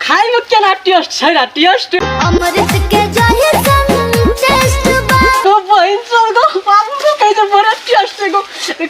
खाए में केना टेस्ट छै रा टेस्ट अमृत के जाहे संग टेस्ट बा तो बहिन सब गो बाबू को कहे तो बड़ा टेस्ट से गो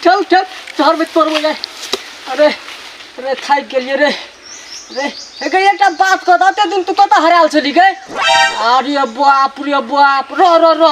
ठल ठल शहर में तोड़ जाए अरे अरे थाक गेलिए रे रे एक एकटा बात कह दते दिन तू कत हराल छली गए अरे बाप रे बाप रो रो रो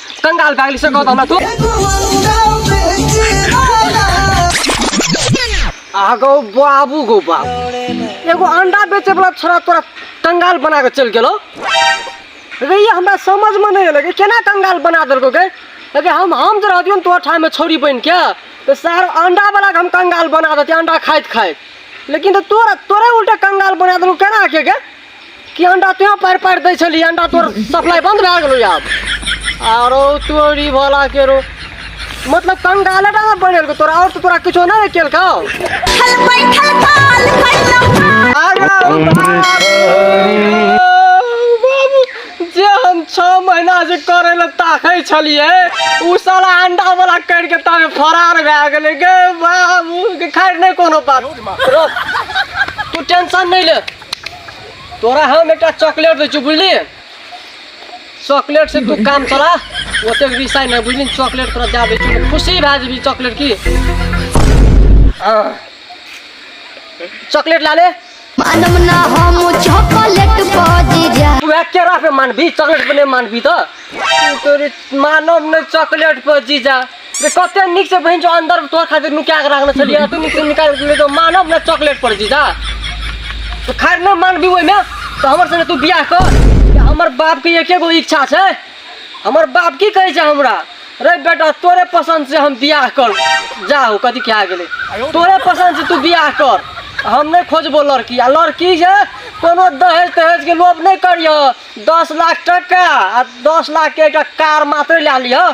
कंगाल पागल से कहत हमरा तू आगो बाबू गो बाबू एगो अंडा बेचे वाला छोरा तोरा कंगाल बना के चल गेलो रे ये हमरा समझ में नहीं लगे केना कंगाल बना देलको गे अरे हम हम जे रहतियो तोहर ठाम में छोरी बन के तो सार अंडा वाला के हम कंगाल बना देती अंडा खाइत खाइत लेकिन तो तोरा तोरे उल्टा कंगाल बना देलको केना के गे कि अंडा तोँ पारि पारि दै छली अंडा तोर सप्लाई बन्द भए गेलौ आब आरो तोरी भला केरो मतलब कंगाले डाला बनल को तोरा और तो तोरा कुछो ना रे केल खाओ जे हम छः महीना से करे ले ताकै छलिए उ साला अंडा वाला कर के तामे फरार भए गेलै गे बाबू के खैर नहीं कोनो बात रो तू टेंशन नहीं ले तोरा हम एकटा चॉकलेट दै छियौ बुझली चॉकलेट से तू काम चला ओते रिसाइ नहि बुझली चॉकलेट तोरा दए दै छियौ खुशी भए जेबी चॉकलेट की हाँ। चॉकलेट ला ले मानम ना हम चॉकलेट पजी जा तू एक केरा पे मानबी चॉकलेट पे नहीं मानबी तो तोरे मानव ने चॉकलेट पर जीजा रे कते नीक से बहिन जो अंदर में तोहर खातिर नुका के रखने छलिए तू नीक से निकाल के ले तो मानब ना चॉकलेट पर जी जा तो खैर ना मानबी ओइ में तो हमर संगे तू बियाह कर कि हमर बाप के एके गो इच्छा छै हमर बाप की कहै छै हमरा रे बेटा तोरे पसंद से हम बियाह कर जाहो कथी क्या गेले तोरे पसंद से तू बियाह कर हम नहीं खोजबो लड़की आ लड़की जे कोनो दहेज तहेज के लोभ नहीं करिह दस लाख टका आ दस लाख के एकटा कार मात्र ला लिह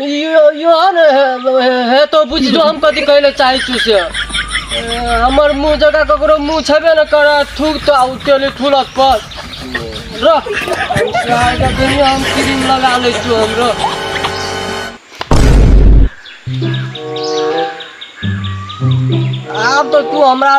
यो यो न हे तो बुझलो हम कथी कहै लए चाहै छी से ए, हमर मुँह जकाँ ककरो मुँह छेबे ने करऽ थूक तऽ आउ तेली ठुलक पर रह हम चाहै के कहियो हम क्रीम लगा लै छी हम रह आब तऽ तू हमरा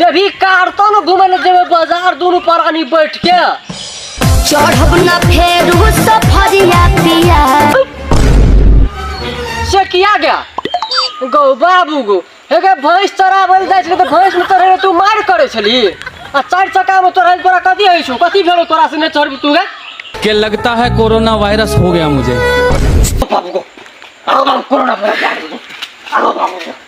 जब ही कारतो न घूमे न जेबे बाजार दुनु परानी बैठ के चढ़ब न फेर हो सफरिया पिया से किया गया गौ बाबू गो हेगे भैंस चराबल जाइ छले त भैंस में तोरे तू मार करे छली आ चार चक्का में तोरा तोरा कथी होइ छौ कथी भेलो तोरा से ने चढ़बी तू गे कि लगता है कोरोना वायरस हो गया मुझे बाबू गो आओ बाबू कोरोना भरा जा आओ बाबू गो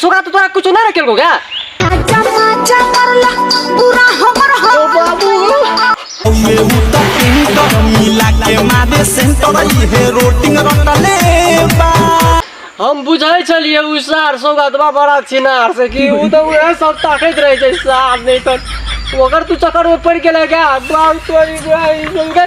सुगा तो तोरा कुछ ना रखेल को क्या हम बुझै छलिए उ सार सौगतवा बड़ा छिनार से कि उ तो उहे सब ताकत रहे छै सार नहीं तो ओकर तू चक्कर में पड़ गेलै क्या बाप तोरी गाय संगे